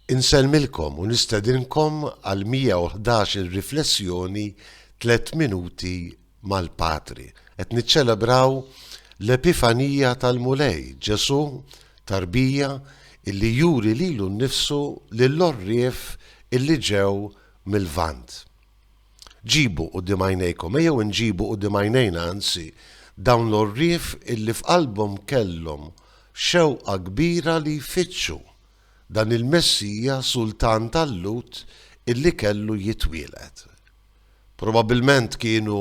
Insellmilkom u nistedinkom għal 111 il-riflessjoni tliet minuti mal-Patri. Qed niċċelebraw l-Epifanija tal-Mulej, Ġesù tarbija illi juri lilu nnifsu lill-għorrief illi ġew mill-Lvant. Ġibu quddiem għajnejkom, ejjew inġibu quddiem għajnejna anzi, dawn l-għorrief illi f'qalbhom kellhom xewqa kbira li jfittxu dan il-Messija Sultan tal-Lhud illi kellu jitwieled. Probabbilment kienu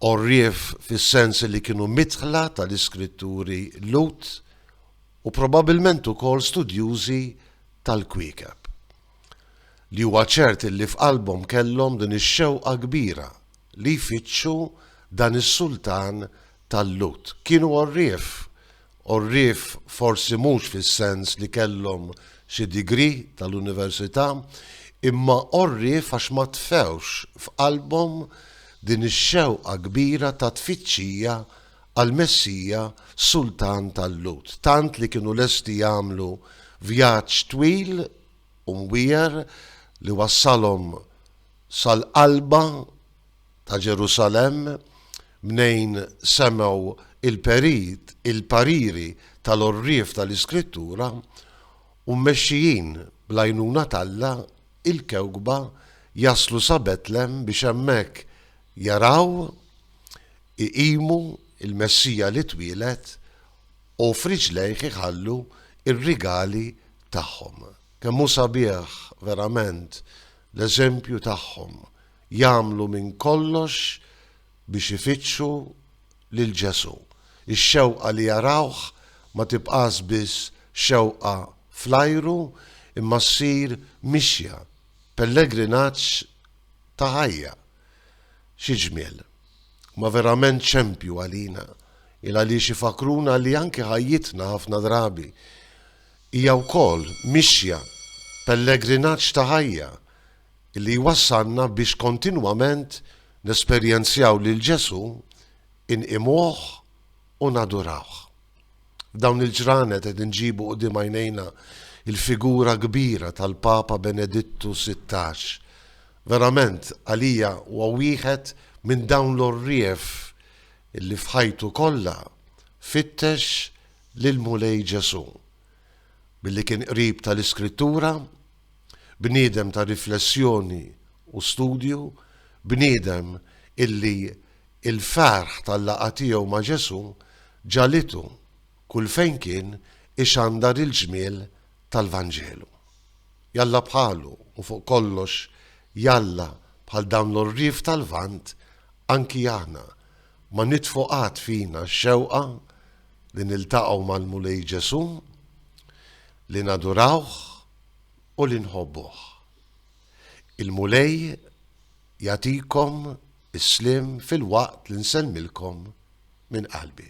għorrief fis-sens illi kienu midħla tal-iskritturi Lhud u probabbilment ukoll studjużi tal-kwiekeb. li huwa ċert illi f'qalbhom kellhom din ix-xewqa kbira li jfittxu dan is-sultan tal-Lhud. Kienu għorrief, għorrief forsi mhux fis-sens li kellhom xi degree tal-università, imma għorrief għax ma tfewx f'qalbhom din ix-xewqa kbira ta' tfittxija għall-Messija sultan tal-Lhud, tant li kienu lesti jagħmlu vjaġġ twil u mwiegħer li wassalhom sal-qalba ta' Ġerusalemm mnejn semgħu l-perit, il-pariri tal-għorrief tal-Iskrittura, u mmexxijin bl-għajnuna t'Alla, il-kewkba, jaslu sa Betlem biex hemmhekk jaraw iqimu l-Messija li twieled, u f'riġlejh iħallu r-rigali tagħhom. Kemm hu sabiħ verament l-eżempju tagħhom, jagħmlu minn kollox biex ifittxu lil Ġesù. Ix-xewqa li jarawh ma tibqax biss xewqa fl-ajru imma ssir mixja, pellegrinaġġ ta' ħajja. Xi ġmiel! huma verament xempju għalina il għaliex ifakruna li anke ħajjitna ħafna drabi hija wkoll mixja pellegrinaġġ ta' ħajja li jwassalna biex kontinwament nesperjenzjaw lil Ġesù, inqimuh u nadurawh. F'dawn il-ġranet qed inġibu quddiem għajnejna l-figura kbira tal-Papa Benedittu Sittax. Verament, għalija huwa wieħed minn dawn l-għorrief li f'ħajtu kollha fittex lill-Mulej Ġesù. Billi kien qrib tal-Iskrittura, Bniedem ta' riflessjoni u studju, bniedem illi l-ferħ tal-laqgħa tiegħu ma' Ġesù ġagħlitu kull fejn kien ixandar il-ġmiel tal-Vanġelu. Jalla bħalu u fuq kollox jalla bħal dawn l-għorrief tal-Lvant anki aħna ma nitfu qatt fina x-xewqa li niltaqgħu mal-Mulej Ġesù, li nadurawh, u li nħobbuh. Il-Mulej jagħtikom is-sliem filwaqt li nsellmilkom minn qalbi.